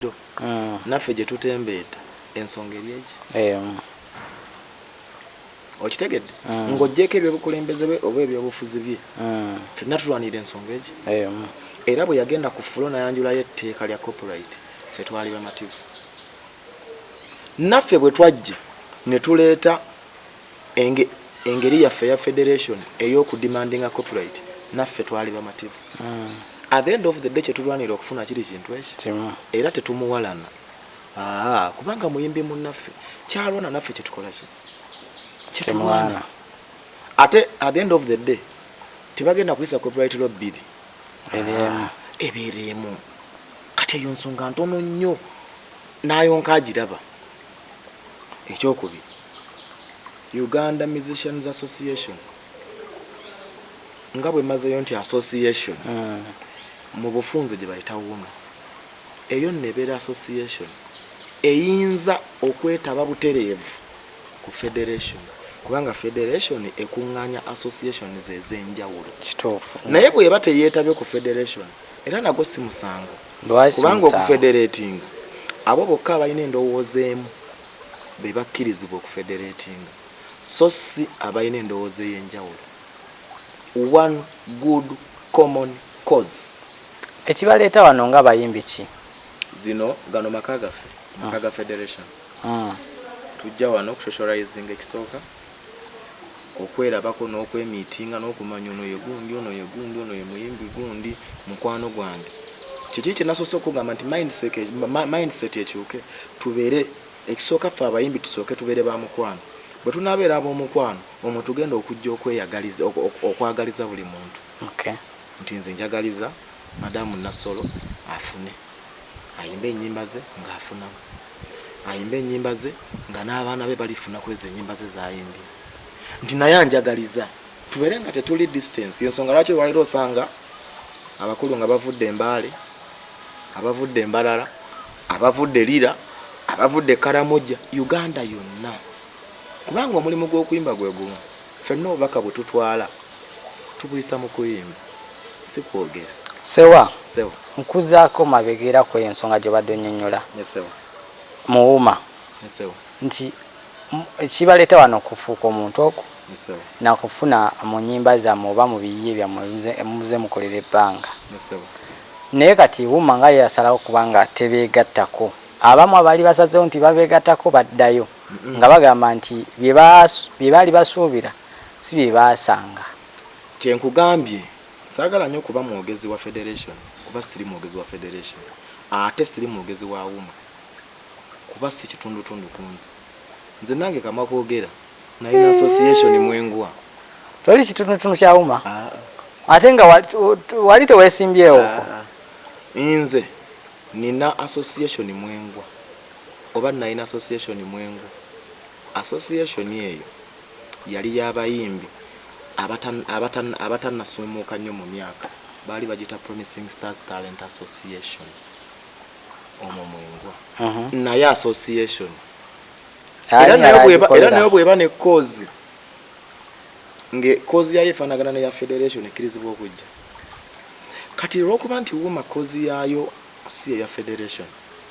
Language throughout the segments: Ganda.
Bulijo naffe jetutembeeta ensonga eri eki? Emu. Okitegedde? Nga ojjeeko ebyobukulembeze bwe oba ebyobufuzi bye, ffenna tulwanirira ensonga eki? Emu. Era bwe yagenda ku ffulo nayanjulayo etteeka lya copyright, ffe twali bamativu. Naffe bwe twajja ne tuleeta. Enge, engeri yaffe eya federation ey'okudimandinga copyright naffe twali bamativu. Mm. At the end of the day kyetulwanira okufuna kiri kintu eki. Kimu. Era tetumuwalana. Aa, kubanga muyimbi munnaffe kyalwana naffe kyetukola ki? Kyetulwana. Ate at the end of the day tebagenda kuyisa copyright law bbiri. Ebyemu. Ebyemu. Kati eyo nsonga ntono nnyo nayo nkagiraba. Ekyokubiri, Uganda Musicians Association nga bwe mazeeyo nti association hmm. mu bufunze gye bayita wuno eyo nno ebeera association eyinza okwetaba butereevu ku federation kubanga federation ekuŋŋaanya associations ez'enjawulo kituufu naye bw'eba teyeetabye ku federation era nagwo si musango Kubanga okufedereetinga, abo bokka abalina endowooza emu be bakkirizibwa okufedereetinga, so si abalina endowooza ey'enjawulo. One Good Common Cause. Ekibaleeta wano nga bayimbi ki? Zino, gano maka gaffe, maka ga federation. Tujja wano kushoshorizinga ekisooka. okwerabako n'okwemiitinga n'okumanya ono ye gundi ono ye gundi ono ye muyimbi gundi mukwano gwange kiki kye nasoose okugamba nti mindset ekyuke tubeere ekisooka ffe abayimbi tusooke tubeere ba mukwano bwe tunaabeera ab'omukwano omwe tugenda okujja okweyagaliza okwagaliza buli muntu nti nze njagaliza madamu nassolo afune Ayimbe enyimba ze nga afunamu. Ayimbe enyimba ze nga n'abaana be balifuna kwezo enyimba ze zayimbye. Nti naye anjagaliza. Tubere nga tetuli distance. Yensonga lwaki olwaliro osanga abakulu nga bavudde embaale, abavudde embalala, abavudde lira, abavudde karamoja, Uganda yonna. Kubanga omulimu gw'okuyimba gwe gumu. Ffenna obubaka bwe tutwala tubuyisa mu kuyimba si kwogera. Sewa, Sewa. nkuzaako mabega era ku eyo nsonga gy'obadde onnyonnyola Yes, Sewa. Muwuma Yes, Sewa. nti mu- ekibaleeta wano okufuuka omuntu oku Yes, Sewa. na kufuna mu nnyimba zammwe oba mu biyiye byammwe muze- muze mukolera ebbanga Yes, Sewa. naye kati wuma nga ye yasalawo kubanga tebeegattako abamu abaali basazeewo nti babeegattako baddayo nga bagamba nti bye baali basuubira si bye baasanga. Kye nkugambye saagala nnyo kuba mwogezi wa federation kuba siri mwogezi wa federation ate siri mwogezi wa UMA kuba si kitundutundu ku nze. Nze nange kamwa koogera nalina association mwe ngwa. Toli kitundutundu kya UMA? Ah. Ate nga wali teweesimbyewo? Ah. Nze nina association mwe ngwa. oba nnalina association Mwengu. Association eyo yali ya bayimbi abata abata abatannasuumuuka nnyo mu myaka, baali bagiyita Promising Stars Talent Association. Omwo mwe ngwa. Naye association era nayo bweba era nayo bweba ne kozi nge kozi yayo efaanagana neya federation ekkirizibwa okujja kati olwokuba nti wuma kozi yaayo si eya federation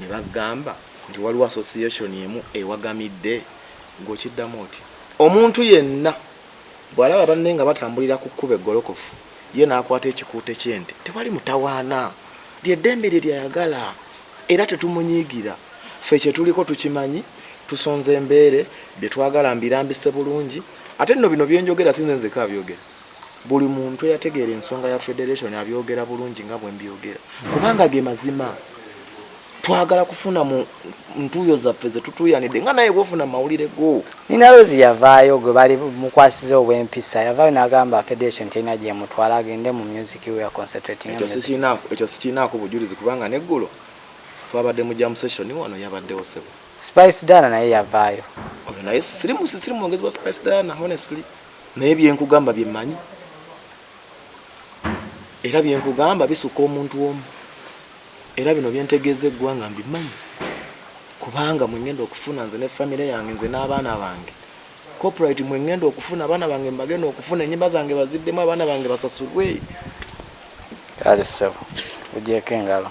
ne bagamba nti waliwo association emu ewagamidde ng'okiddamu otya omuntu yenna bw'alaba banne nga batambulira ku kkuba eggolokofu ye n'akwata ekikuute ky'ente tewali mutawaana lyeddembe lye lyayagala era tetumunyiigira ffe kye tuliko tukimanyi tusonze embeere bye twagala mbirambise bulungi ate nno bino byenjogera sinze nzeka abyogera Buli muntu eyategeera ensonga ya federation abyogera bulungi nga bwe mbyogera kubanga ge mazima. Twagala kufuna mu ntuuyo zaffe ze tutuuyanidde nga naye bwofuna mu mawulire go. Nina Rozi yavaayo gwe bali mukwasiza obw'empisa yavaayo n'agamba federation terina gy'emutwala agende mu music we aconcentratinge mu music. Ekyo sikirinaako bujulizi kubanga n'eggulo twabadde mu jam session wano yabaddewo ssebo. Spice Diana naye yavaayo. Oyo naye siri mwogezi wa Spice Diana honestly. naye byenkugamba byemanyi era byenkugamba bisuka omuntu omu era bino byentegeeza eggwanga mbimanyi kubanga mwengenda okufuna nze ne famire yange nze n'abaana bange coprit mwengenda okufuna abaana bange mbagenda okufuna enyumba zange baziddemu abaana bange basasulwe alisebo ogyeko engalo